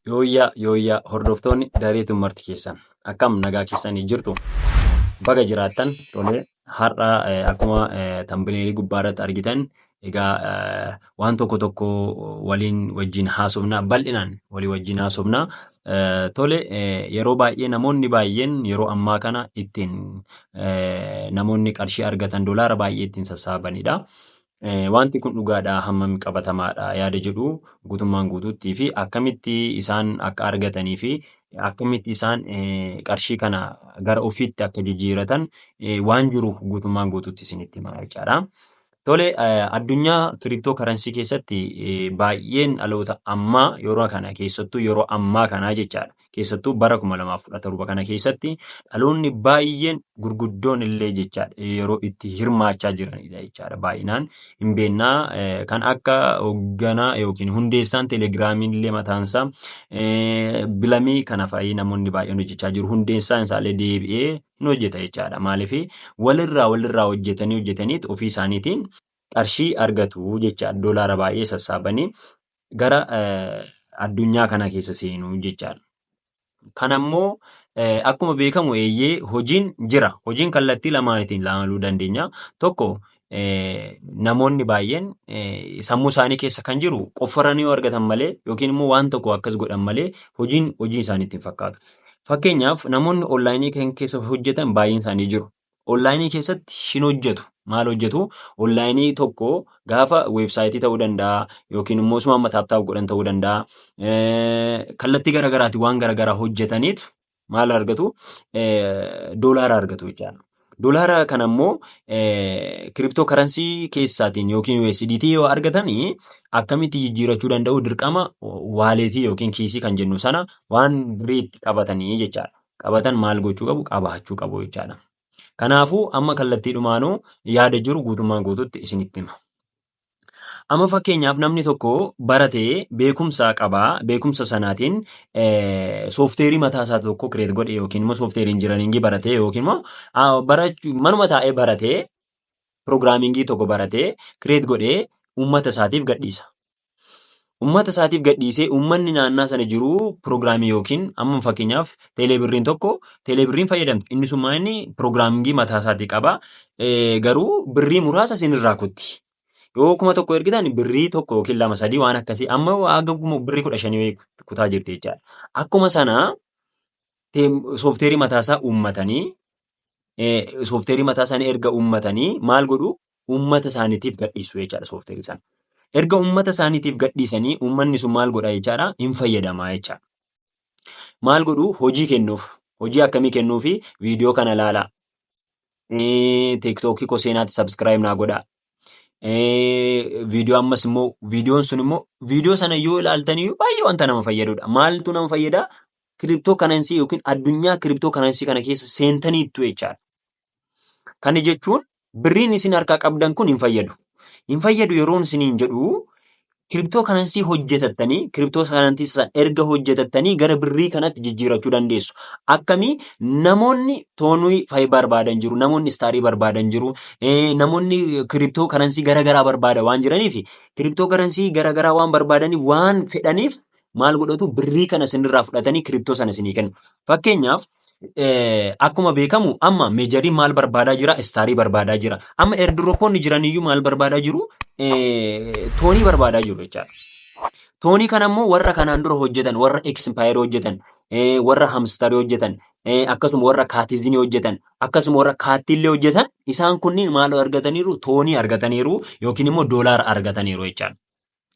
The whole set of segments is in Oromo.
Yooyyaa yooyyaa hordoftoonni daree tummarti keessan akkam nagaa keessanii jirtu baga jiraattan tolee har'a akkuma tambineelii gubbaarratti argitan Egaa waan tokko tokko waliin wajjin haasofna bal'inaan walii wajjin haasofna. Tole yeroo baay'ee namoonni baay'een yeroo ammaa kana ittiin namoonni qarshii argatan dolaara baay'ee ittiin sassaabanidha. Wanti kun dhugaadhaa hammam qabatamaadha yaada jedhu guutummaan guutuuttii fi akkamitti isaan akka argatanii fi akkamitti isaan qarshii kana gara ofiitti akka jijjiiratan waan jiru guutummaan guutuutti isinitti hima jechaadha. Tole, addunyaa kiriptoo karansii keessatti baay'een dhaloota ammaa yeroo kana keessattuu yeroo ammaa kanaa jechaadha. Keessattuu bara 2017 kana keessatti dhaloonni baay'een gurguddoon illee jechaadha yeroo itti hirmaachaa jiranidha jechaadha baay'inaan. Hin beennaa kan akka hoogganaa yookiin hundeessaan telegiraamiin illee mataansaa bilamii kana fa'ii namoonni baay'een hojjechaa jiru. Hundeessaan isaallee deebi'ee hin hojjeta jechaadha. Maaliif walirraa walirraa hojjetanii hojjetaniit ofii isaaniitiin qarshii argatu jechaadha. Doolaara baay'ee sassaabanii gara addunyaa kana keessa seenu jechaadha. Kan ammoo akkuma beekamu eeyyee hojiin jira. Hojiin kallattii lamaanitiin ilaaluu dandeenya. Tokko namoonni baay'een sammuu isaanii keessa kan jiru qofforanii yoo argatan malee yookiin immoo waan tokko akkas godhan malee hojiin hojii isaaniitti hin fakkaatu. Fakkeenyaaf namoonni onlaayinii kan keessa hojjetan baay'een isaanii jiru. Onlaayinii keessatti hin hojjetu. Maal hojjetu? Onlaayinii tokko gaafa weebsaayitii ta'uu danda'a yookiin immoo osuma amma taaptaap godhan ta'uu danda'a. Kallattii garaagaraatiin waan garaagaraa hojjetaniitu maal argatu doolaara argatu jechaadha. Doolaara kana immoo kiriptoo karansii keessaatiin yookiin USDT yoo argatan akkamitti jijjiirachuu danda'u dirqama waaleetii yookiin kiisii kan jennu sana waan biriitti qabatanii jechaadha. Qabatan maal gochuu qabu qabaachuu qabu jechaadha. Kanaafuu amma kallattiidhumaanuu yaada jiru guutummaan guutuutti isinitti hima. Amma fakkeenyaaf namni tokko baratee beekumsa qaba. Beekumsa sanaatiin soofteerii mataa isaa tokko kireet godhe yookiin immoo soofteerii injinariingii baratee yookiin immoo ah, barachuu- manuma taa'ee baratee piroogiraamingii tokko baratee kireet godhee uummata isaatiif gadhiisa. Ummata isaatiif gadhiisee ummanni naannaa sana jiru piroogiraamii yookiin amma fakkeenyaaf teelee birriin tokko teelee birriin fayyadamti inni summaa inni piroogiraamingii mataa isaatii qaba garuu birrii muraasa isin irraa kutti yoo kuma tokko ergitan birrii tokko yookiin lama sadii waan akkasii amma haga birrii kudha shanii kutaa jirti jechaadha akkuma sana soofteerii mataa isaa uummatanii soofteerii mataa isaanii erga uummatanii maal godhu uummata isaaniitiif gadhiisu jechaadha soofteerii sana. Erga uummata isaaniitiif gadhiisanii uummanni sun maal godha jechaadha hin fayyadamaa jechaadha. Maal godhu hojii kennuuf hojii akkamii kennuufi viidiyoo kana laalaa tiktookii koo seenaatti sabskiraayib naa godhaa viidiyoo ammas immoo viidiyoon sun immoo viidiyoo sana yoo ilaaltanii baay'ee wanta nama fayyadudha. Maaltu nama fayyada? Kiriptoo kanansii yookiin addunyaa kiriptoo kanansii kana keessa seentaniittu jechaadha. Kana jechuun Birriin isin harkaa qabdan kun hin fayyadu. Hin fayyadu yeroon isiniin jedhu kiriptoo kanansii hojjetattanii kiriptoo kanansii san erga hojjetattanii gara birrii kanatti jijjiirachuu dandeessu. Akkamii namoonni toonii fayi barbaadan jiru, namoonni istaarii barbaadan jiru, eh, namoonni kiriptoo kanansii garaagaraa barbaada waan jiraniif kiriptoo kanansii garaagaraa waan barbaadaniif waan fedhaniif maal godhatu birrii kana isinirraa fudhatanii kiriptoo sana isinii kennu. Fakkeenyaaf akkuma beekamu amma meejariin maal barbaadaa jira istaarii barbaadaa jira amma erdiropoonni jiraniyyuu maal barbaadaa jiru toonii barbaadaa jiru jechaadha. Toonii kana immoo warra kanaan dura hojjetan warra eksimpaayeri hojjetan warra hamstarii hojjetan akkasuma warra kaatizinii hojjetan akkasuma warra kaattiillee hojjetan isaan kunniin maal argataniiru toonii argataniiru yookiin immoo doolaara argataniiru jechaadha.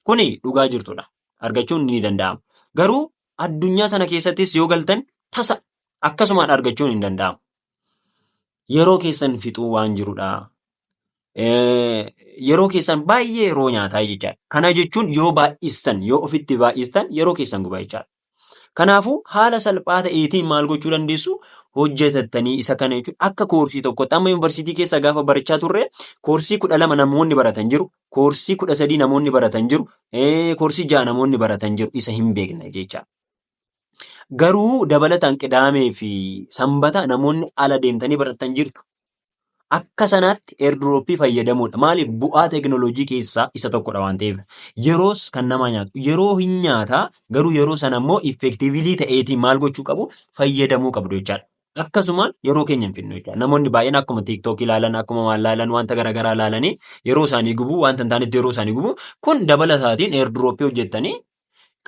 Kuni dhugaa jirtudha argachuun ni danda'ama garuu Addunyaa sana keessattis yoo galtan tasa akkasumaan argachuun hin danda'amu. Yeroo keessan fixuu waan jirudha. Yeroo keessan baay'ee yeroo nyaataa jechaadha. Kana jechuun yoo baay'istan, yoo ofitti baay'istan yeroo keessan guba jechaadha. Kanaafuu haala salphaa ta'eetiin maal gochuu dandeessu? Hojjetattanii isa kana jechuun akka koorsii tokkotti amma yuunivarsiitii keessa gaafa barachaa turre koorsii kudha lama namoonni baratan jiru. Koorsii kudha sadii namoonni baratan jiru, koorsii ja'a namoonni baratan jiru isa hin beekna jecha. Garuu dabalataan qidaamee fi sanbata namoonni ala deemtanii baratan jirtu. Akka sanaatti eerdurooppii fayyadamuudha. Maaliif bu'aa teekinooloojii keessaa isa tokkodha waan ta'eef. Yeroos kan namaa nyaatu. Yeroo hin nyaata garuu yeroo sana immoo effektiivilii ta'eetiin maal gochuu qabu fayyadamuu qabdu jechaadha. akkasuma yeroo keenya hin fidnu jechuudha. Namoonni baay'een akkuma TikTok ilaalan, akkuma waan ilaalan, wanta garaagaraa ilaalanii yeroo isaanii gubu, wanta hin taanetti yeroo isaanii gubu, kun dabala isaatiin airdropii hojjettanii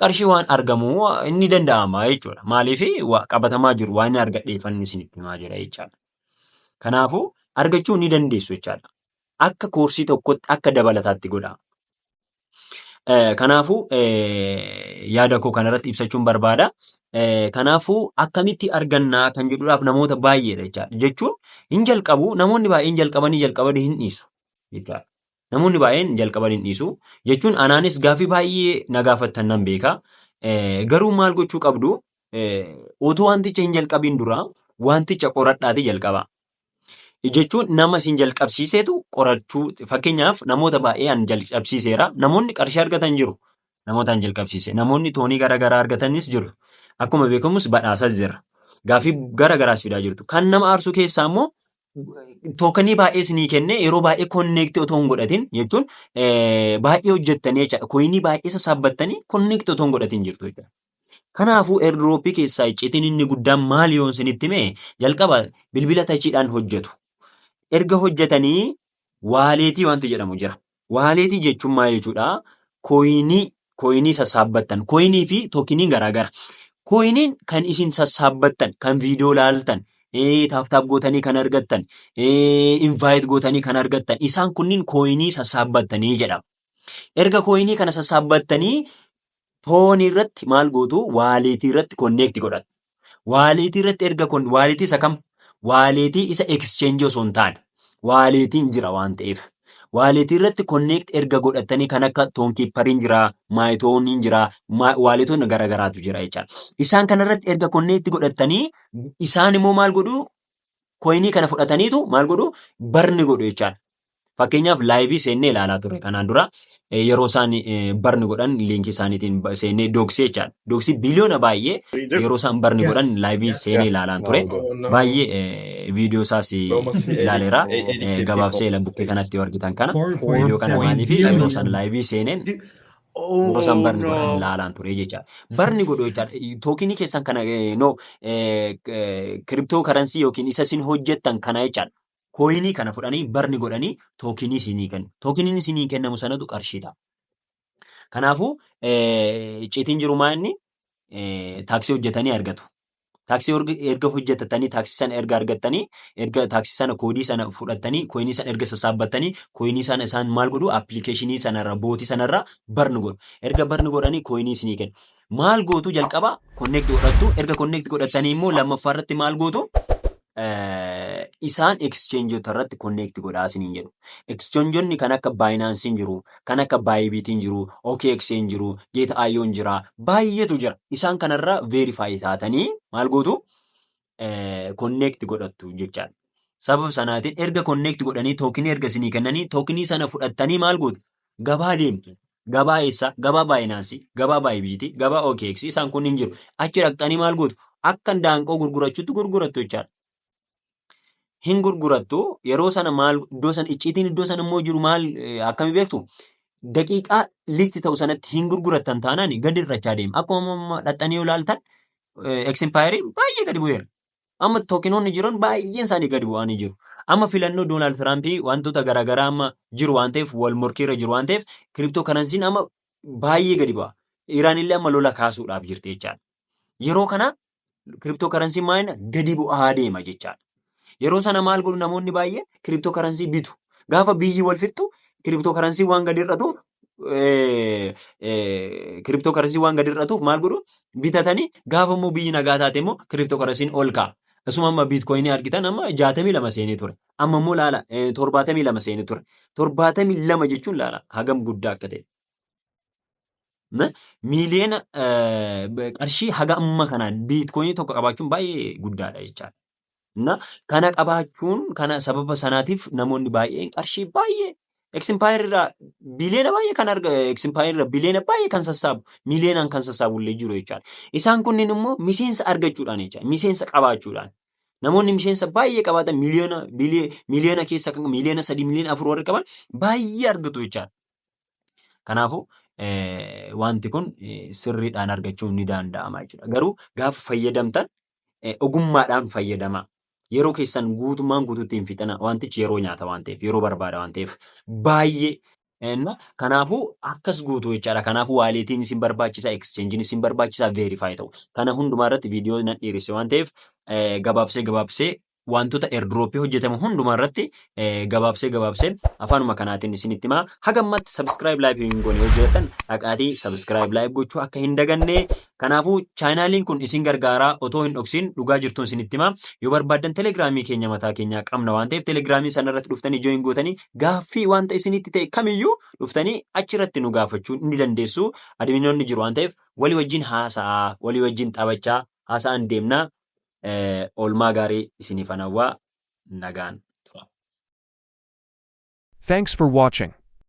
qarshii waan argamu inni danda'ama jechuudha. Maaliif qabatamaa jiru waan inni argadheeffanni isinitti himaa jira jechaadha. Kanaafuu argachuu ni dandeessu jechaadha. Akka koorsii tokkotti akka dabalataatti godhaa. Kanaafuu yaada koo kanarratti ibsachuun barbaada. Kanaafuu akkamitti argannaa kan jedhuudhaaf namoota baay'eedha jechaadha. Jechuun hin jalqabu namoonni baay'een jalqabanii jalqabanii hin dhiisu jechaadha. Namoonni baay'een jalqabanii hin dhiisu jechuun anaanis gaaffii baay'ee na gaafattan nan beeka. Garuu maal gochuu qabdu otoo wanticha hin jalqabiin dura wanticha qoradhaatii jalqabaa. jechuun nama isin jalqabsiisetu qorachuu fakkeenyaaf namoota baay'ee an jalqabsiiseera namoonni qarshii argatan jiru namoota an jalqabsiise namoonni toonii gara garaa argatanis jiru akkuma beekamus badhaasas jira gaafii gara garaas fidaa jirtu kan nama aarsuu keessaa immoo tookanii baay'ee isinii kenne yeroo baay'ee konneektii otoo hin godhatin jechuun baay'ee hojjettanii jechaadha koyinii baay'ee sassaabbattanii konneektii otoo hin godhatin jirtu jechaadha. Kanaafuu airdrop keessaa iccitiin inni guddaan maal yoon isinitti hime jalqaba bilbila tachiidhaan hojjetu. Erga hojjetanii waaleetii wanti jedhamu jira. Waaleetii jechuun maal jechuudha? Kooyinii kooyinii sassaabbattan. Kooyinii fi tookinii garaagara. Kooyiniin kan isin sassaabbattan, kan viidiyoo laaltan, taaptaap gootanii kan argattan, invaayit gootanii kan argattan isaan kunniin kooyinii sassaabbattanii jedhama. Erga kooyinii kana sassaabbattanii Toonii irratti maal gootu? Waaliitii irratti konneekti godhatu. Waaliitii irratti erga kon waaliitii isa kam? Waaliitii isa exchange osoo hin taane. Waaliitiin jira waan ta'eef. Waaliitii irratti konneekti erga godhatanii kan akka toonkiippariin jira, maayitooniin jira, waaliitoonni garaagaraatu jira jechaadha. Isaan kana irratti erga konneekti godhatanii isaan immoo maal godhu? Koyinii kana fudhataniitu maal godhu? Barni godhu jechaadha. Fakkeenyaaf laayivii seennee ilaalaa turre kanaan dura yeroo isaan barni godhan liinkii isaaniitiin seennee dooksii jechaadha. Dooksii biliyoona baay'ee yeroo isaan barni godhan laayivii seenee ilaalaan ture. Baay'ee viidiyoo isaas ilaaleera. Gabaabsee ila bukkee kanatti yoo argitan kana viidiyoo kana maaliif yeroo isaan laayivii seeneen yeroo isaan barni godhan ilaalaan ture jechaadha. Barni godhu jechaadha. Tookinii keessan kana no kiriptoo karansii yookiin isa isin hojjettan kana jechaadha. kooyinii kana fudhanii barni godhanii tookinii isinii kennu. Tookiniin isinii kennamu sanatu qarshii ta'a. Kanaafuu icciitiin jiru maa inni taaksii hojjetanii argatu. Taaksii erga hojjetatanii taaksii sana erga argattanii erga taaksii sana koodii sana fudhattanii kooyinii sana erga sassaabbattanii kooyinii sana isaan maal godhu appilikeeshinii sanarra bootii sanarra barni godhu. Erga barni godhanii kooyinii isinii kennu. Maal gootu jalqaba konneekti godhattu erga konneekti godhattanii immoo lammaffaa irratti maal gootu eh, isaan exchangeota irratti connect godhaa isiniin jedhu. Exchangeonni kan akka Binance hin jiru, kan akka Bybit hin jiru, OKX hin jiru, Gate.io hin jira, baay'eetu jira. Isaan kanarra verify taatanii maal gootu? Eh, connect godhattu jechaadha. Sababa sanaatiin erga connect godhanii tookinii erga isinii kennanii tookinii sana fudhattanii maal gootu? Gabaa deemtu. Gabaa eessaa? Gabaa baayinaansii, gabaa baayibiitii, gabaa OKX isaan kun hin jiru. Achi dhaqxanii maal gootu? Akka daanqoo gurgurachuutti gurgurattu jechaadha. Hin gurgurattu yeroo sana maal iddoo sana icciitiin iddoo sana immoo jiru maal eh, akkami beektu? Daqiiqaa listi ta'u sanatti hin gurgurattan taanaan gadi irrachaa deema. Akkuma amma dhaqxanii yoo ilaaltan eksimpaayeriin baay'ee gadi bu'eera. Amma tookinoonni jiran baay'een isaanii gadi bu'anii jiru. Amma filannoo Doonaald Tiraampii wantoota garaagaraa amma jiru waan ta'eef wal morkiirra jiru waan ta'eef kiriptoo karansiin amma baay'ee gadi bu'a. Iraan illee amma lola kaasuudhaaf jirti jechaadha. Yeroo kana kiriptoo karansiin maayina gadi bu'aa deema jechaadha. Yeroo sana maal godhu namoonni baay'een kiriptoo karansii bitu. Gaafa biyyi wal fixxu kiriptoo karansiin waan gadi hir'atuuf kiriptoo karasii waan gadi hir'atuuf maal godhu bitatanii gaafa immoo biyyi nagaa taate immoo kiriptoo karasiin ol ka'a. Asuma amma biitkoyinii argitan amma jaatamii lama seenee ture. Amma immoo laala torbaatamii lama seenee ture. Torbaatamii lama jechuun laala hagam guddaa akka ta'e. Miiliyoona qarshii haga amma kanaan biitkoyinii tokko qabaachuun baay'ee guddaadha jechaadha. Na, kana qabaachuun kana sababa sanaatiif namoonni baay'een qarshii baay'ee eksimpaayir irraa biliyoona baay'ee kan arga eksimpaayir irraa biliyoona baay'ee kan sassaabu miliyoonaan kan sassaabu illee jiru jechaadha. Isaan kunniin immoo miseensa argachuudhaan jechaadha. Miseensa qabaachuudhaan. Namoonni miseensa baay'ee qabaatan miliyoona bili- miliyoona keessa kan miliyoona sadii miliyoona afur warri qaban baay'ee argatu jechaadha. Kanaafuu eh, wanti kun eh, sirriidhaan argachuun ni danda'ama jechuudha. Garuu gaafa fayyadamtan eh, ogummaadhaan fayyadamaa. Yeroo keessan guutummaan guutuutti hin fixina. Wantichi yeroo nyaata waan ta'eef, yeroo barbaada waan ta'eef baay'ee Enna kanaafuu akkas guutuu jechaadha. Kanaafuu waaleetiin isin barbaachisa, exchange'n isin barbaachisa, verify ta'u. Kana hundumaa irratti viidiyoo nan dhiiresse waan ta'eef eh, gabaabsee gabaabsee wantoota airdrop hojjetamu hundumaa irratti eh, gabaabsee gabaabsee afaanuma kanaatiin isinitti himaa haga ammatti subscribe live hin goone yoo jiratan dhaqaatii subscribe live gochuu akka hin daganne kanaafuu chaayinaaliin kun isin gargaaraa otoo hin dhoksin dhugaa jirtuun isinitti himaa yoo barbaaddan telegiraamii keenya mataa keenyaa qabna waan ta'eef telegiraamii sana irratti dhuftanii join gootanii gaaffii wanta isinitti ta'e kamiyyuu dhuftanii achirratti nu gaafachuu ni dandeessu adminoonni jiru waan ta'eef walii wajjin haasa'aa walii wajjin taphachaa haasa'an deemnaa Oolmaa gaarii isiniifan hawwa. Nagaan tura. Thanks for watching.